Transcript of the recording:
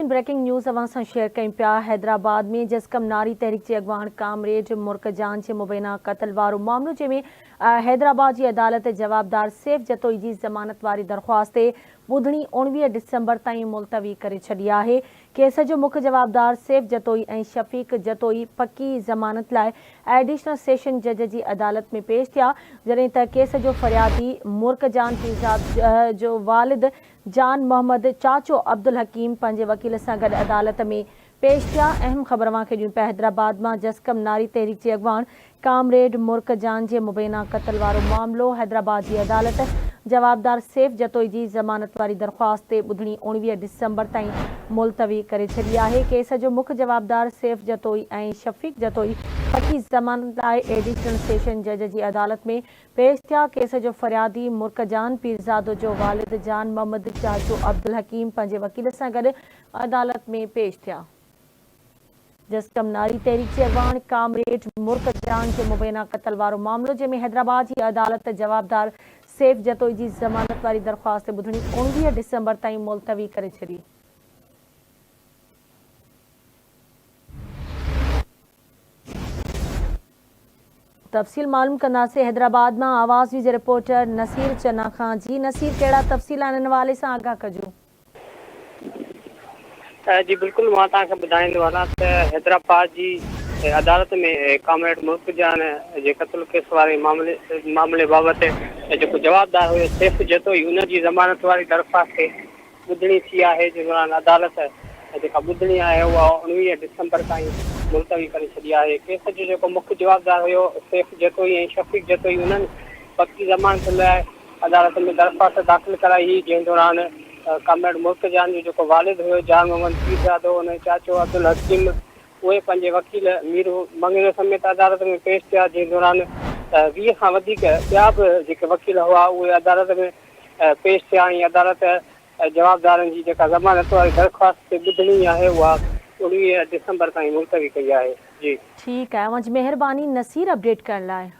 Breaking news اوهان سان share ڪيون پيا حيدرآباد ۾ جسقم ناري تحريڪ جي اڳواڻ ڪامريڊ مرڪ جان جي مبينا قتل وارو معاملو جنهن ۾ حيدرآباد جي عدالت جوابدار سيف جتوئي جي ضمانت واري درخواست تي ٻڌڻي اوڻويهه ڊسمبر تائين ملتوي ڪري ڇڏي آهي ڪيس جو مک جوابدار سيف جتوئي ۽ شفيق جتوئي پڪي ضمانت لاء ايڊيشنل سيشن جج جي عدالت ۾ پيش ٿيا جڏهن ته ڪيس جو فريادي مرڪ جان پيرزاد جو والد جان محمد چاچو عبدالحڪيم پنهنجي وڪيل سان گڏ عدالت ۾ پيش ٿيا. اهم خبر اوهان کي ڏيون پيا حيدرآباد مان جسقم ناري تحريڪ جي اڳواڻ ڪامريڊ مرڪ جان جي مبينا قتل وارو معاملو حيدرآباد جي عدالت جوابدار سيف جتوئي جي ضمانت واري درخواست تي ٻڌڻي اوڻويهه ڊسمبر تائين ملتوي ڪري ڇڏي آهي ڪيس جو مک جوابدار سيف جتوئي ۽ شفيق جتوئي فقي ضمانت لاء ايڊيشنل سيشن جج جي عدالت ۾ پيش ٿيا، ڪيس جو فريادي مرڪ جان پيرزادو جو والد جان محمد چاچو عبدالحڪيم پنهنجي وڪيل سان گڏ عدالت ۾ پيش ٿيا، جسقم ناري تحريڪ جي اڳواڻ ڪامريڊ مرڪ جان جو مبينا قتل وارو معاملو جنهن ۾ حيدرآباد جي عدالت جوابدار سيف جتوئي جي ضمانت واري درخواست تي ٻڌڻي اوڻويهه ڊسمبر تائين ملتوي ڪري ڇڏي. تفصيل معلوم ڪنداسين حيدرآباد مان آواز نيوز جي رپورٽر نصير چنا کان جي نصير ڪهڙا تفصيل آهن ان حوالي سان آگاهه ڪجو. جي بلڪل مان توهان کي ٻڌائيندو هلان ته حيدرآباد جي عدالت ۾ ڪامريڊ ملڪ جان جي قتل ڪيس واري معاملي بابت جيڪو جوابدار هيو سيف جتوئي ان جي ضمانت واري درخواست تي ٻڌڻي ٿي آهي جنهن دوران عدالت جيڪا ٻڌڻي آهي اها اوڻويهه ڊسمبر تائين ملتوي ڪري ڇڏي آهي. ڪيس جو جيڪو مک جوابدار هيو سيف جتوئي ۽ شفيق جتوئي انهن وقتي ضمانت لاء عدالت ۾ درخواست داخل ڪرائي هئي جنهن دوران ڪامريڊ ملڪ جان جو جيڪو والد هيو جان محمد پيرزادو ان جو چاچو عبدالحڪيم اهي پنهنجي وڪيل مير مڱريو سميت عدالت ۾ پيش ٿيا جنهن دوران ويهه کان وڌيڪ ٻيا به جيڪي وڪيل هئا اهي عدالت ۾ پيش ٿيا ۽ عدالت جوابدارن جي جيڪا ضمانت واري درخواست تي ٻڌڻي آهي اها اوڻويهه ڊسمبر تائين ملتوي ڪئي آهي. جي. ٺيڪ آهي اوهان جي مهرباني نصير اپڊيٽ ڪرڻ لاء.